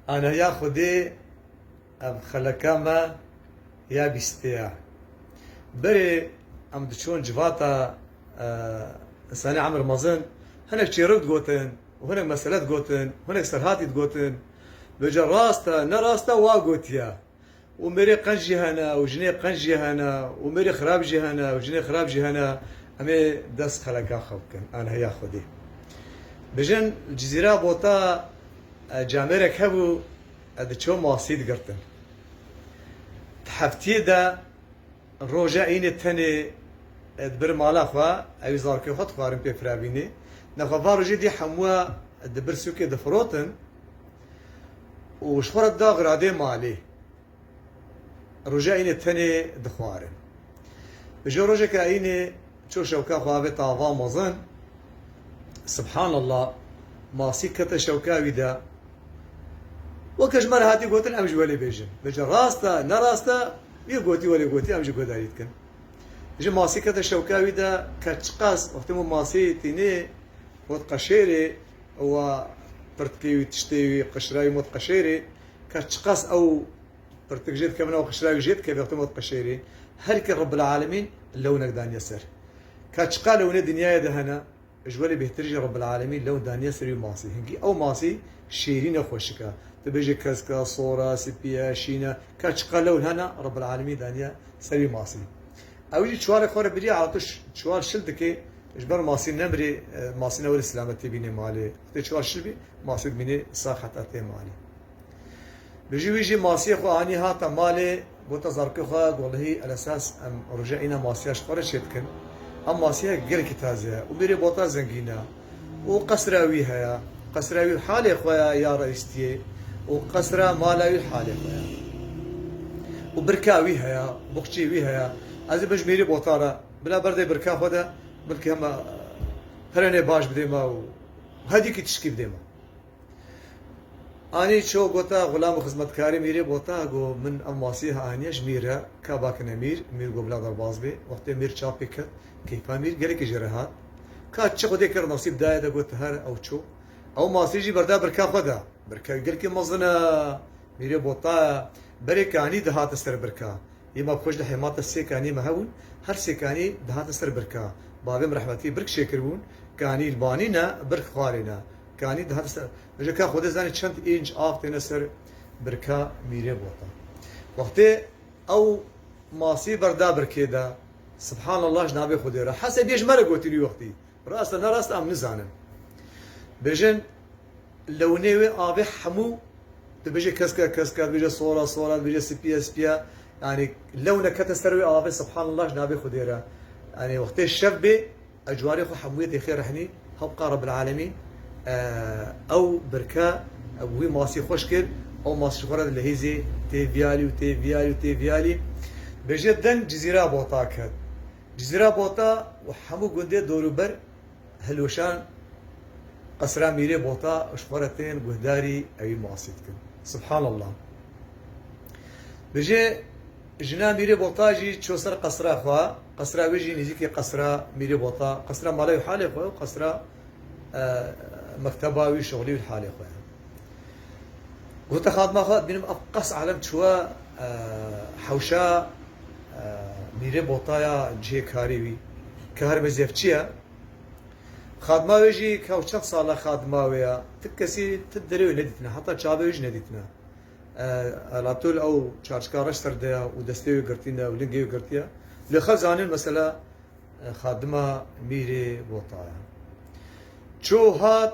Ana ya Xwedê ev xeleka me ya bîstê ya. Berê em diçûn civata însanê emr mezin hinek çêrok digotin û hinek mesele digotin, hinek serhatî digotin. Bêje rast e ne rast e wa gotiye. û mêrê qenc jî hene û jinê qenc jî hene û mêrê xirab jî hene û jinê xirab jî hene em ê dest xeleka xwe bikin an heya xwedê bijin li cizîra bota camêrek hebû ez diçûm masî digirtin di heftiyê de roja înê tenê dibir mala xwe ewî zarokê xwe dixwarin pê firavînê nexwe van rojê dî hemû dibir sûkê difirotin Û ji xwe re dax radê malê. Roja Îynê tenê dixwarin. Dijo rojeke Îynê çû şewka xwe avê tava mezin. Subhanallah! Masî kete şewka wî de. Weke ji me re hatî gotin em ji welê bêjin. Dijo rast e, ne rast e, wî gotî welê gotî em ji guhdarî dikin. Dijo Masî kete şewka wî de, ket çiqas. Wextê min Masî tînê, got qeşêrê. ewa pirtikê wî tiştê wî qişira wî mot qeşêrê ka çiqas ew pirtik jê dikevin ew qişira wî jê dikeve wextê mot qeşêrê herkê Rebbil Alemîn lewnek daniye ser ka çiqa lewnê dinyayê de hene ji welê bêhtir jî Rebbil Alemîn lewn daniye ser wî masî hinkî ew masî şêrîn e xweşik e tu bêjî kesk e sor e sipî ye şîn e ka çiqa lewn hene Rebbil Alemîn daniye ser wî masî ew jî çiwarê xwe re birî ertûş çiwar şil dikê Ji ber masî nemrî, masî ne welê silametî bînê malê. Xwedê çiwa şibî, masî dimînê sax heta tê malê. Bi jî wî jî masiyê xwe anî hata malê, gota zarokê xwe Golhî Elesas em roja îna masiya ji xwe re çêdikin. Ew masiyek gelekî taze ye û mêrê bota zengîn e û qesra wî heye. Qesra wî halê xwe ye ya reîstiyê û qesra mala wî halê xwe ye û birka wî heye, boxçê wî heye. Ez ê bin ji mêrê bota re. Bila berdê birka xwe de bilkî hema pirenê baş bidê ma û hedî kî tişkî bidê ma. Anî ço gota xulam û xizmetkarê Mîrê bota go min em wasî ha aniye ji Mîr re ka bakine Mîr. Mîr go bila derbaz bê. Wextê Mîr çav pê ket keyfa Mîr gelekî jê re hat. Ka çi xwedê kir nasîb daye de got her ew ço. Ew masî jî berda birka xwe de. Birka wî gelkî mezin e. Mîrê bota berê ke anî dihate ser birka. Yê ma koj li hêmata sê kaniyê me hebûn, her sê kanî dihatin ser birka. Bavê min rehmetî birk çêkiribûn, kanî li banî ne, birk xwarê ne. Kanî dihatin ser Ji ka Xwedê zanî çend înc av têne ser birka mîrê bota. Wextê ew masî berda birkê de, Sibhanallah ji navê Xwedê re. Hesê bê ji me re gotî wî wextî. Rast e nerast e em nizanin. Bêjin li winê wê avê hemû dibêje kesk e kesk e, dibêje sor e sor e, dibêje spî e spî e. Yanî lewne kete ser wê avê subhanallah ji navê Xwedê re. Yanî wextê şev bê ez cwarê xwe hemûyê têxê rehnî hebqa Rebîlelemîn ew birke wî masî xweş kir ew masî ji xwe re di lehîzê tê vîyalî û tê vîyalî û tê vîyalî. Bêje deng cizîra bota ket. Cizîra Bota û hemû gundê dorûber hilweşan qesra Mîrê Bota û ji xwe re tên guhdarî ewî masî dikin. Subhanallah. Dije jina Mîrê Bota jî çû ser qesra xwe, qesra wê jî nêzîkî qesra Mîrê Bota, qesra mala wî halê xwe û qesra mekteba wî, şixulê wî halê xwe ye. Gote xadima xwe dibînim ev qas alem çûye hewşa Mîrê botaya cihê karî wî ke herbe zevçî ye. Xadima wê jî kew çend sal e xadima wê ye. Ti kesî ti derê wê nedîtine heta çavê wê jî nedîtine. Elatol ew çarçika reş ser de ye û destê wê girtîne û lingê wê girtiye. Lê xelk zanîn mesele xadima Mîrê bota ye. Çû hat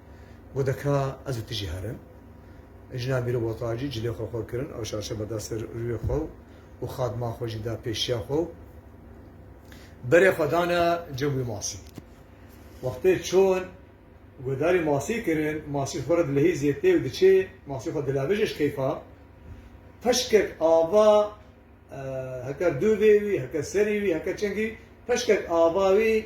Got e ka ez û tu jî herin. Jina bîro bota jî cilê xwe xwe kirin ew şaşeba da ser rûyê xwe û xadma xwe jî da pêşiya xwe û berê xwe dane cem wî masî. Wextê çûn guhdarî masî kirin, masî ji xwe re dilehî zêtê û diçê, masî xwe dilevije ji keyfa. Peşkek ava heke dûvê wî, heke serî wî, heke çengî wî, peşkek ava wî,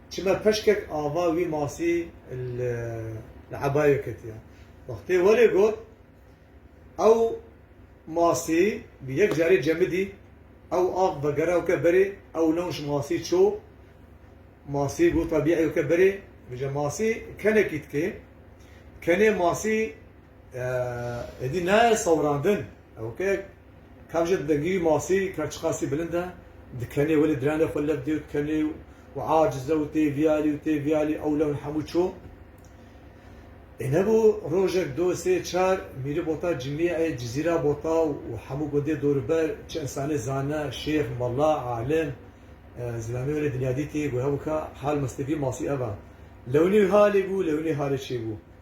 Çima peşkek ava wî masî li ebayê ketiya. Wextê welê got, ew masî bi yek carê cemidî, ew av vegeraw ke berê, ew lewş masî ço, masî got tabîeyo ke berê, vije masî kenekî dikê, kenê masî êdî naye sewrandin. Ew ke kav jî dengî masî ka çi qasî bilind e, dikenê welê diranê xwe leb dê û dikenê û aciz e û tê vîyalî û tê vîyalî ew lewin hemû çû. Ê nebû rojek do sê çar mîrî bota cimîyê cizîra bota û hemû gundê dorûber çi însanê zane, şêx, mela, alim, zilamê welê dinya dîtî, got hebû ka hal mistîfî masî ev e. Lewinî halê bû, lewinî halê çê bû.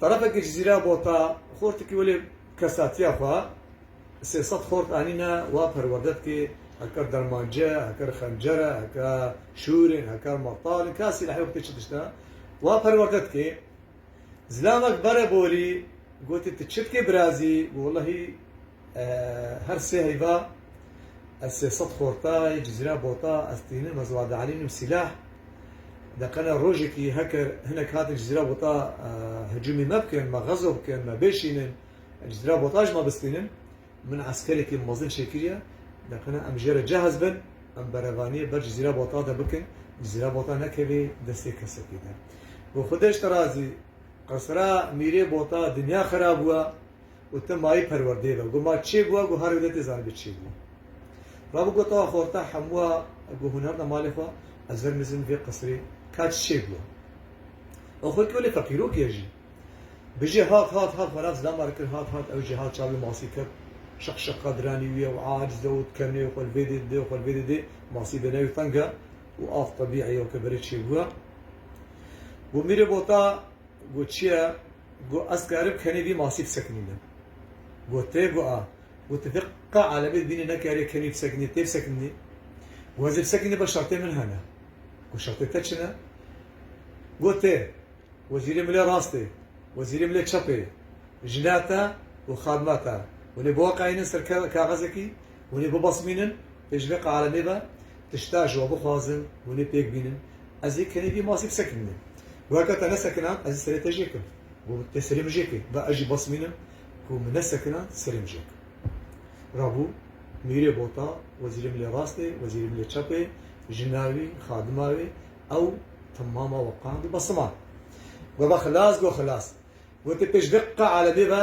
Tarafekî ji zîra bota xortikî welê kesatiya xwe sê sed xort anîne wa perwerde dike heke dermance, heke xencere, heke şûrên, heke metal in kesî nehê xwitê çi tişt e wa perwerde dike. Zilamek bere borî gotî tu çi dikê birazî got wellehî, Her sê heyva ez sê sed xorta yê cizîra bota ez tînim, ez wade elînim sîlah. Deqena rojekî heker hinek hatin cizîra bota hicûmê me bikin, me xezo bikin, me bêşînin, cizîra bota ji me bistînin. Min eskerekî mezin çêkiriye. Deqena em jê re cehez bin, em berevaniyê ber cizîra bota de bikin, cizîra bota nekevê destê kesekî de. Goxudeş te razî, qesra mîrê bota dinya xera bûye. û te mayî perwerdeyê ve got ma çê bûa got her wê de tê zanî bi çê bûa. Rabû got awa xorta hemûa got hûn hebna malê xwe ez ver mizin vê qisirê ka çê bûa. Ew xwe kewlê feqîrok ye jî. Bijî hat hat hat xwe nav zilama re kir hat hat ew jî hat çavê masî ket şiq şiq qad ranî wî ew aciz e û kenê û xwe li vê dê didê û xwe li vê dê didê masî bi newî teng e û av tebî eyo ke berê çê bûa. Got mîrê bota Go çiye? Go ez karim kenê vî masî fisekinîme. Go tê go a. Go ti vê qe alemê di bînê nekarî kenî fisekinî, tê fisekinî. Go ez ê fisekinî ba şertê min hene. Go şertê te çi ne? Go tê. Wezîrê milê rast ê. Wezîrê milê çep ê. Jina te û xadima te hûnê biweqayînin ser kaxezekî, hûnê bibesmînin pê ji vê qe alemê ve. tişta ji we bixwazin, hûn ê pêk bînin. Ez ê kenê vî masî bi ser kirinim. Got, Ka te nesekina, ez ê serê te jê kim. Got, Te serê min jê kir. Ba ez jî basmînim ku min nesekina, serê min jê kir. Rabû, Mîrê Bota, wezîrê milê rastê, wezîrê milê çapê, jina wî, xadima wî, ew temama we qand û basiman. Got, Ba xilas, got xilas. Got, Pêş vê qe alemê ve,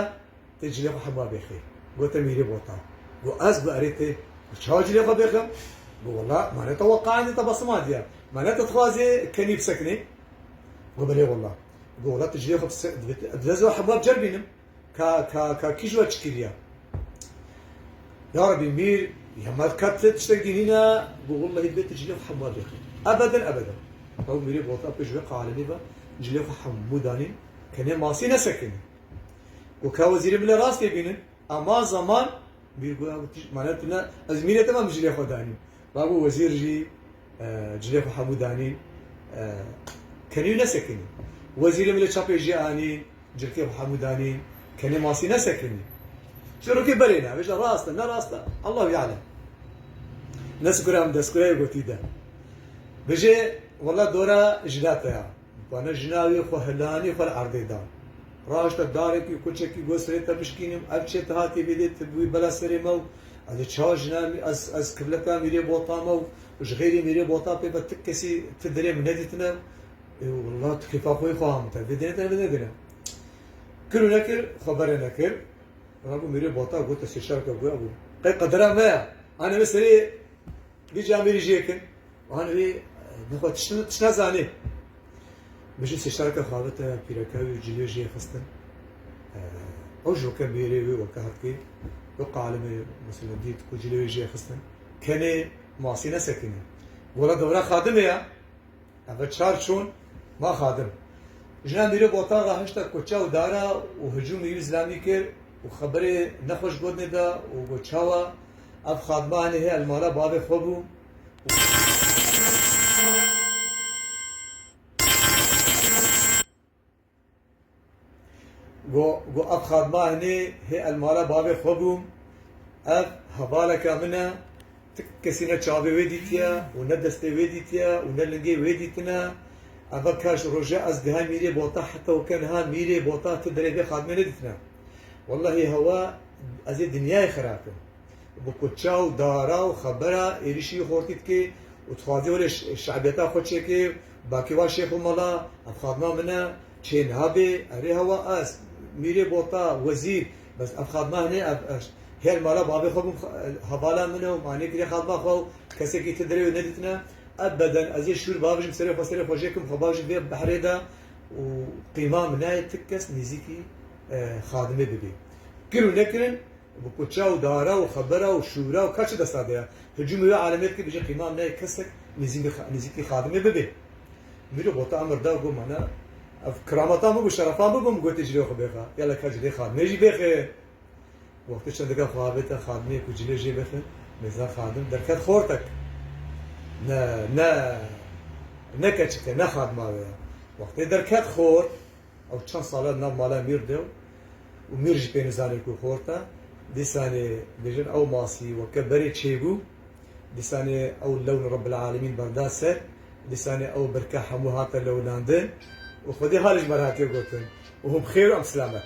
Tê cilê xwe hema bêxê. Gote mîrê botan. Go ez bi erê tê bi çawa cilê xwe bêxim? Go wela ma ne tawa qaendê te basima diya. Ma ne te dixwazê kenî bisekinê? Go belê wela. Go wela tu cilê xwe bise divê ez hema bi cer bînim. Ka ka ka kî ji we çi kiriya? Ya rebî mîr ya me qet tê tiştek dî hîna? Go wellahî divê tu cilê xwe hema bêxî. Ebeden ebeden. Ew mîrê botan pê ji wê qalenî ve cilê xwe hemû danîn kenê masî nesekinî. Ku ke wezîrê bile rast tê bînin a ma zeman bîr got ew tişt mane tune ez mînê te mam cilê xwe danî. Ma got wezîr jî cilê xwe hemû danî kenî û nesekinî. Wezîrê bile çapê jê anî cilkê xwe hemû danî kenê masî nesekinî. Çîrokê berê ne bêje rast e ne rast e Allahu yalem. Neskure em deskureyê gotî de. Bêje wela dora jilate ya. Dikwane jinavê xwe hilanî xwe li erdê da. Raşte darekî kuçekî got serê te bişkînim, ev çê te hatiye vê dê te bûyî bela serê me û ez li çar jina ez kivleka Mîrê Bota me û ji xêrê Mîrê Bota pê ve ti kesî ti derê min nedîtine walla tu kêfa xwe yî xwe hame te vê dêne te vê nedêne. Kir û nekir xwe bere nekir. Rabû Mîrê Bota got te sê şereke ku hebû qey qedera me ya. Anê min serê Dî ca mêrî jê kin. Wan rê nexwe tiştin tişna zanê. Mijî sêşarka xavite pîreke wî cilê jê xistin. Ew ji weke mêrê wê weke hatkê wê qalime mesela dît ku cilê wê jê xistin. Kenê masî nesekine. Gola dewra xadime ya. Ev çar çûn ma Xadim. Jina mîrê bi otaxa hişta koça û dara û hicûmê Yûnus Lamî kir û xeberê nexweş gotinê da û got çawa ev Xadima hinî heye li mala bavê xwe bû û Got, Ev xadima hinê hê el mala bavê xwe bûm, ev hevaleke min e, ti kesî ne çavê wê dîtiye û ne destê wê dîtiye û ne lingê wê dîtine, eva ka ji roja ez dihê mîrê bota heta weke niha mîrê bota ti derê vê xadimê nedîtine. Wellahî hewa ez ê dinyayê xerab kim. bi kuça û dara û xebera êrîşî xortî dike û dixwaze were şe'biyeta xwe çêke, Bakê wan şêx û mala, ev xadima min e, çê niha bê, erê hewa ez, mîrê bota, wezîr, bes ev xadima hinê ev her mala bavê xwe bûm hevala min e û manê kiriye xadima xwe û kesekî ti derewê nedîtine, ev beden ez ê şûr babijim serê xwe serê xwe jêkim xwe babijim vê behrê de û qîma min nayê ti kes nêzîkî xadimê bibê. Kir û nekirin Bi kuça û dara û xebera û şûra û kaçê desta de ya. Tu cû miwê alemê bikî bijî qîma me kesek nêzîkî xadimê bibê. Mîrî gota emir da got mana ev kirameta min bû şerefa min bû min gotê cilê xwe bêxe. Yala ka cilê xadimê jî bêxe. Wextê çendika xwe avête xadimê ku cilê jê bixe mêza xadim derket xortek. Ne ne ne keçik e ne xadima wê ya. Wextê derket xort. Ew çend sal e di nav mala Mîr de û Mîr jî pê nizane ku xort e. Dîsanê bêjin ew masî weke berê çêbû. Dîsanê ew lewn Rebbil Alemîn berda ser. Dîsanê ew birke hemû hate lewlandin û xwedî halê ji me re hatiye gotin, Hûn bi xêr û em bi silamet.